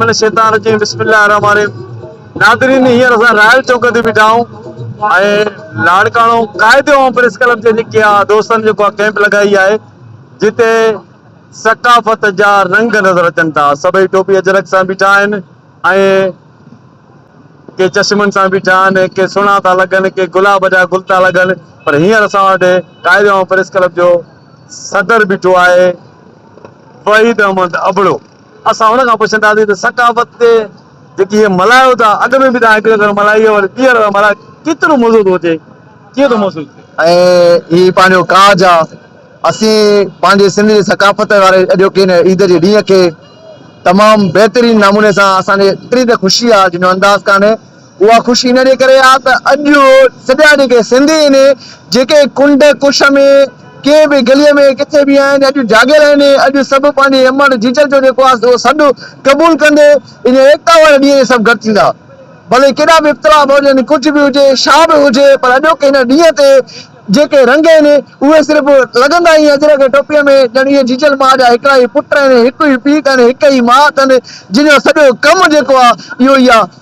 من الشيطان الرجيم بسم الله الرحمن الرحيم ناظرين هينئر اسان رائل چوڪ تي بيٺا آهيون ۽ لاڙڪاڻو قائد عوام پريس ڪلب جي نڪي دوستن جيڪو ڪيمپ لڳائي آهي جتي ثقافت جا رنگ نظر اچن ٿا سڀئي ٽوپي اجرڪ سان بيٺا آهن ۽ ڪي چشمن سان بيٺا آهن ڪي سنها ٿا لڳن ڪي گلاب جا گل ٿا لڳن پر هينئر اسان وٽ قائد عوام پريس ڪلب جو صدر بيٺو آهي وحيد احمد ابڙو اسان هن کان پڇنداسين ته ثقافت تي جيڪي هي ملهايو ٿا، اڳ ۾ به توهان هڪڙي ڀيرو ملهائي هئي وري ٻيهر ٿا ملهايو، ڪيترو مزو ٿو اچي، ڪيئن ٿو محسوس ٿئي؟ ۽ هي پنهنجو ڪاڄ آ، اسين پنهنجي سنڌ جي ثقافت واري اڄوڪي هن عيد جي ڏينهن کي تمام بهترين نموني سان اسان کي ايتري ته خوشي آ جنهن جو انداز ڪانهي، اها خوشي ان ڏي ڪري آهي ته اڄ سڄا جيڪي سنڌي آهن، جيڪي ڪنڊ ڪش ۾ ڪنهن به گليء ۾ ڪٿي به آهن، اڄ جاڳيل آهن، اڄ سڀ پنهنجي امڙ جيجل جو جيڪو آهي اهو سڏ قبول ڪندي ان ايڪتا واري ڏينهن تي سڀ گڏ ٿيندا. ڀلي ڪيڏا به اختلاف هجن، ڪجهه به هجي، ڇا به هجي پر اڄوڪي هن ڏينهن تي جيڪي رنگ آهن اهي صرف لڳندا ائين اجرڪ ٽوپيء ۾ ڄڻ اهي جيجل ماء جا هڪڙا ئي پٽ آهن، هڪ ئي پيء اٿن، هڪ ئي ماء اٿن، جن جو سڄو ڪم جيڪو آهي اهو ئي آهي.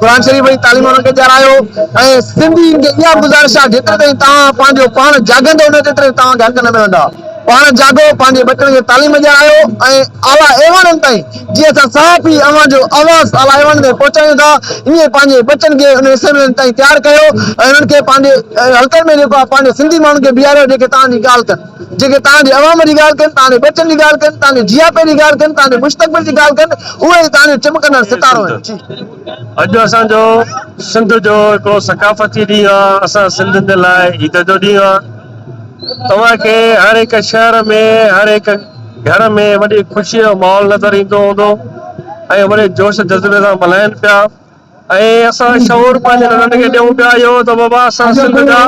قرآن شريف جي تعليم انهن کي ڏيارايو ۽ سنڌين کي اها گذارش آهي جيتري تائين توهان پنهنجو پاڻ جاڳندو نه تيتري تائين توهان کي حق نه ملندا پاڻ جاڳو پنهنجي ٻچن کي تعليم ڏيارايو ۽ اعليٰ ايوانن تائين جي اسان صحافي اوهان جو آواز اعليٰ ايوانن تائين پهچايون ٿا ائين پنهنجي ٻچن کي انهن اسيمبلين تائين تيار ڪيو ۽ انهن کي پنهنجي حلقن ۾ جيڪو آهي پنهنجي سنڌي ماڻهن کي بيهاريو جيڪي توهان جي ڳالهه ڪن. جيڪي تان جي عوام جي ڳالهه ڪن، تان جي ٻچن جي ڳالهه ڪن، تان جي جياپي جي ڳالهه ڪن، تان جي مستقبل جي ڳالهه ڪن، اهي ئي تان جو چمڪندڙ ستارو آهن. اڄ اسان جو سنڌ جو هڪڙو ثقافتي ڏينهن آ، اسان سنڌين جي لاء عيد جو ڏينهن آ. توهان کي هر هڪ شهر ۾ هر هڪ گهر ۾ وڏي خوشي جو ماحول نظر ايندو هوندو ۽ وڏي جوش جذبي سان ملهائين پيا. ۽ اسان شعور پنهنجي ننڍن کي ڏيون پيا اهو ته بابا اسان سنڌ جا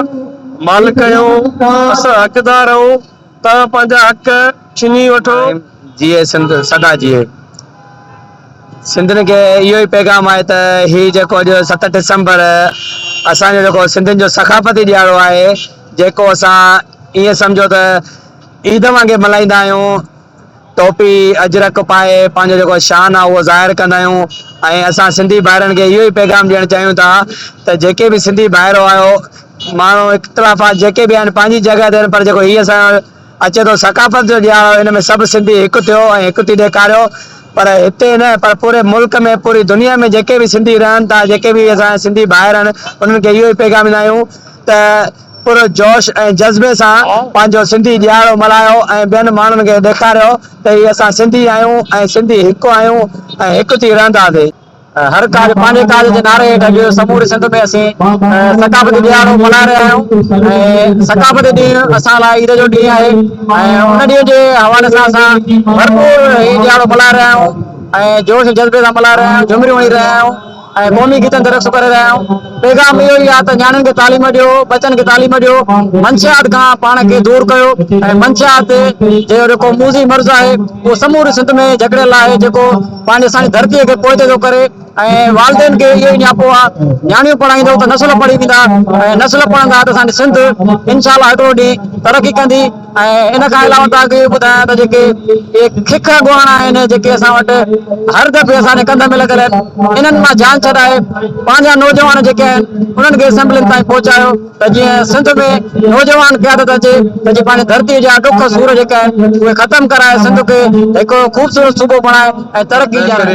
مالڪ آهيون، اسان حقدار آهيون، توهان پنهنجا حق ڇني وٺو. آئين جيئي سنڌ سدا جيئي. سنڌين کي اهو ئي پيغام آهي ته هي جيڪو اڄ ست ڊسمبر اسان جو جيڪو سنڌين جو ثقافتي ڏيهاڙو آهي جيڪو اسان ائين سمجهو ته عيد وانگي ملهائيندا آهيون، ٽوپي اجرڪ پائي پنهنجو جيڪو شان آ اهو ظاهر ڪندا آهيون ۽ اسان سنڌي ڀائرن کي اهو ئي پيغام ڏيڻ چاهيون ٿا ته جيڪي به سنڌي ڀائر آهيو ماڻهو اختلافات جيڪي به آهن پنهنجي جڳهه تي آهن پر جيڪو هي اسان اچي ٿو ثقافت جو ڏيهاڙو ان ۾ سڀ سنڌي هڪ ٿيو ۽ هڪ ٿي ڏيکاريو پر هتي نه پر پوري ملڪ ۾ پوري دنيا ۾ جيڪي به سنڌي رهن ٿا جيڪي به اسان جا سنڌي ڀائر آهن انهن کي اهو ئي پيغام ڏيندا آهيون ته پر جوش ۽ جذبي سان پنهنجو سنڌي ڏيهاڙو ملهايو ۽ ٻين ماڻهن کي ڏيکاريو ته هي اسان سنڌي آهيون ۽ سنڌي هڪ آهيون ۽ هڪ ٿي رهنداسين. هر ڪاڄ پنهنجي ڪاڄ جي نعري هيٺ اڄ سموري سنڌ ۾ اسين ثقافتي ڏيهاڙو ملهائي رهيا آهيون ۽ ثقافتي ڏينهن اسان لاء عيد جو ڏينهن آهي ۽ ان ڏينهن جي حوالي سان اسان ڀرپور هي ڏيهاڙو ملهائي رهيا آهيون ۽ جوش ۽ جذبي سان ملهائي رهيا آهيون جهمريون هڻي رهيا آهيون. ۽ قومي گيتن تي رقص ڪري رهيا آهيون. پيغام اهو ئي آهي ته نياڻين کي تعليم ڏيو، ٻچن کي تعليم ڏيو، منشيات کان پاڻ کي دور ڪيو ۽ منشيات جو جيڪو موذي مرض آهي اهو سموري سنڌ ۾ جڪڙيل آهي جيڪو پنهنجي اسان جي ڌرتي کي پوئتي ٿو ڪري ۽ والدين کي اهو ئي نياپو آهي نياڻيون پڙهائيندو ته نسل پڙهي ويندا ۽ نسل پڙهندا ته اسان جي سنڌ انشاء الله هڪڙو ڏينهن ترقي ڪندي. ۽ ان کان علاوه توهان کي اهو ٻڌايان ته جيڪي اهي ککر ڳوهاڻا آهن جيڪي اسان وٽ هر دفعي اسان جي ڪنڌ ۾ لڳل آهن انهن مان جان ڇڏائي پنهنجا نوجوان جيڪي آهن انهن کي اسيمبلين تائين پهچايو ته جيئن سنڌ ۾ نوجوان قيادت اچي ته جي پنهنجي ڌرتي جا ڏک سور جيڪا آهن اهي ختم ڪرائي سنڌ کي هڪ خوبصورت صوبو بڻائي ۽ ترقي ڏياري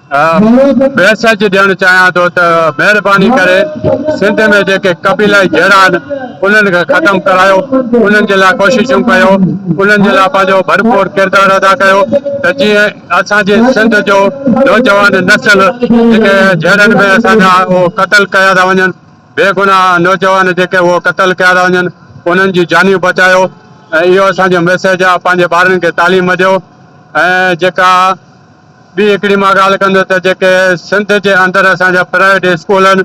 ميسيج ڏيڻ چاهيان ٿو ته مهرباني ڪري سنڌ ۾ جيڪي قبيلائي جهيڙا آهن انهن کي ختم ڪرايو انهن جي لاء ڪوششون ڪيو انهن جي لاء پنهنجو ڀرپور ڪردار ادا ڪيو ته جيئن اسان جي سنڌ جو نوجوان نسل جيڪي جهيڙن ۾ اسان جا اهو قتل ڪيا ٿا وڃن بيگناهه نوجوان جيڪي اهو قتل ڪيا ٿا وڃن انهن جون جانيون بچايو ۽ اهو اسان جو ميسيج آهي پنهنجي ٻارن کي تعليم ڏيو ۽ جيڪا ٻي هڪڙي مان ڳالهه ڪندس ته جيڪي سنڌ جي اندر اسان جا پرائيويٽ اسڪول آهن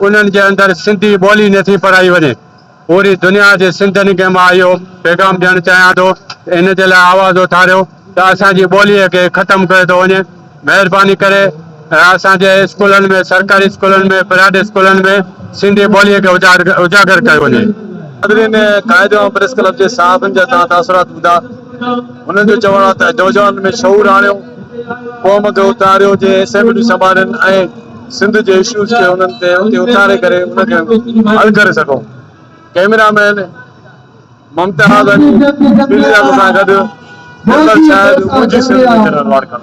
انهن جي اندر سنڌي ٻولي نٿي پڙهائي وڃي پوري دنيا جي سنڌين کي مان اهو پيغام ڏيڻ چاهيان ٿو ان جي لاء آواز اٿاريو ته اسان جي ٻولي کي ختم ڪيو ٿو وڃي مهرباني ڪري اسان جي اسڪولن ۾ سرڪاري اسڪولن ۾ پرائيويٽ اسڪولن ۾ سنڌي ٻولي کي اجاگر ڪيو وڃي. حاضرين قائد ۽ پريس ڪلب جي صحافين جا توهان تاثرات ٻڌا. هنن جو چوڻ آهي ته نوجوانن ۾ شعور آڻيو، قوم کي اٿاريو، جي اسيمبليون سنڀالين ۽ سنڌ جي اشوز کي انهن تي اتي اٿاري ڪري ان کي حل ڪري سگهون. ڪئميرا مين ممتاز علي، ڊيلي لاکو سان گڏ، جنرل شاهد، منهنجي سنڌ ۾ جنرل واڙ ڪرڻ.